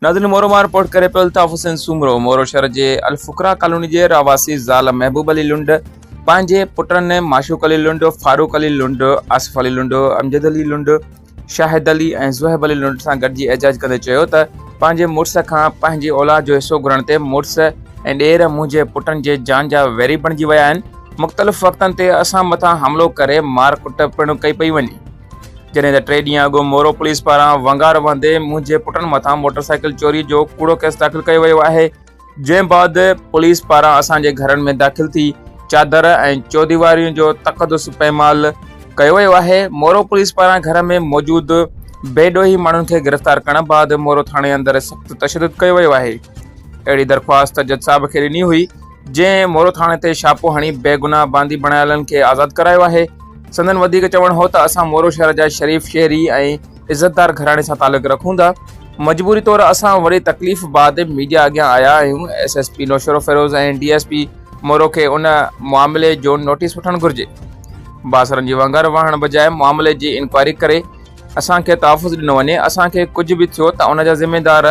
ناظرين مورو مان رپورٽ ڪري پيو الطاف حسين سومرو مورو شهر جي الفقرا ڪالوني جي رهواسي زال محبوب علي لنڊ پنهنجي پٽن معشوق علي لنڊ فاروق علي لنڊ آصف علي لنڊ امجد علي لنڊ شاهد علي ۽ زهيب علي لنڊ سان گڏجي احجاج ڪندي چيو ته پنهنجي مڙس کان پنهنجي اولاد جو حصو گهرڻ تي مڙس ۽ ڏير منهنجي پٽن جي جان جا ويري بڻجي ويا آهن مختلف وقتن تي اسان مٿان حملو ڪري مار ڪٽ پڻ ڪئي پئي وڃي جڏهن ته ٽي ڏينهن اڳ مورو پوليس پاران ونگار وهندي منهنجي پٽن مٿان موٽر سائيڪل چوري جو ڪوڙو ڪيس داخل ڪيو ويو آهي جنهن بعد پوليس پاران اسان جي گهرن ۾ داخل ٿي چادر ۽ چوديوارين جو تقدس پيمال ڪيو ويو آهي مورو پوليس پاران گهر ۾ موجود بي ڏوهي ماڻهن کي گرفتار ڪرڻ بعد مورو ٿاڻي اندر سخت تشدد ڪيو ويو آهي اهڙي درخواست جج صاحب کي ڏني هئي جنهن مورو ٿاڻي تي شاپو هڻي بيگناهه باندي بڻايلن کي آزاد ڪرايو آهي سندن وڌيڪ چوڻ هو ته اسان مورو شهر جا شريف شهري ۽ عزتدار گهراڻي سان تعلق رکون ٿا مجبوري طور اسان وڏي تڪليف بعد ميڊيا اڳيان آيا آهيون S S P Naushahro Feroze ۽ D S P Moro کي ان معاملي جو نوٽيس وٺڻ گهرجي باسرن جي وانگر وهڻ بجاء معاملي جي انڪوائري ڪري اسان کي تحفظ ڏنو وڃي اسان کي ڪجهه به ٿيو ته ان جا ذميدار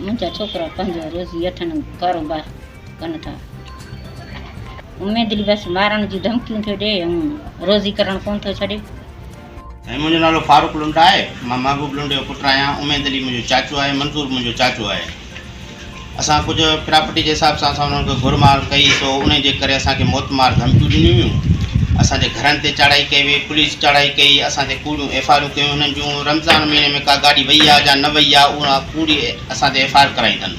منهنجا ڇوڪرا پنهنجو روزي اٺن ڪاروبار ڪن ٿا. اميد علي بس مارڻ جون ڌمڪيون ٿو ڏئي ۽ روزي ڪرڻ ڪونه ٿو ڇڏي. منهنجو نالو فاروق لنڊ آهي. مان محبوب لنڊ جو پٽ آهيان. اميد علي منهنجو چاچو آهي. منظور منهنجو چاچو آهي. اسان ڪجهه پراپرٽي جي حساب سان اسان انهن کي گهر مار ڪئي سو انهي جي ڪري اسان کي موت مار ڌمڪيون ڏنيون ويون اسان جي گهرن تي چاڙهائي ڪئي وئي پوليس چاڙهائي ڪئي اسان تي ڪوڙيون ايف آر يون ڪيون هنن جون رمضان مهيني ۾ ڪا گاڏي وئي آ جا نه وئي آ اها ڪوڙي اسان تي ايف آر ڪرائي اٿن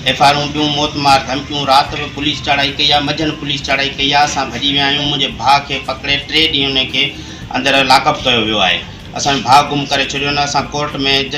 ايف آرون ٻيون موت مار ڌمڪيون رات به پوليس چاڙهائي ڪئي آ منجهن پوليس چاڙهائي ڪئي آ اسان ڀڄي ويا آهيون منهنجي ڀاء کي پڪڙي ٽي ڏينهن انهي کي اندر لاڪ اپ ڪيو ويو آهي اسان جو ڀاء گم ڪري ڇڏيو نه اسان ڪورٽ ۾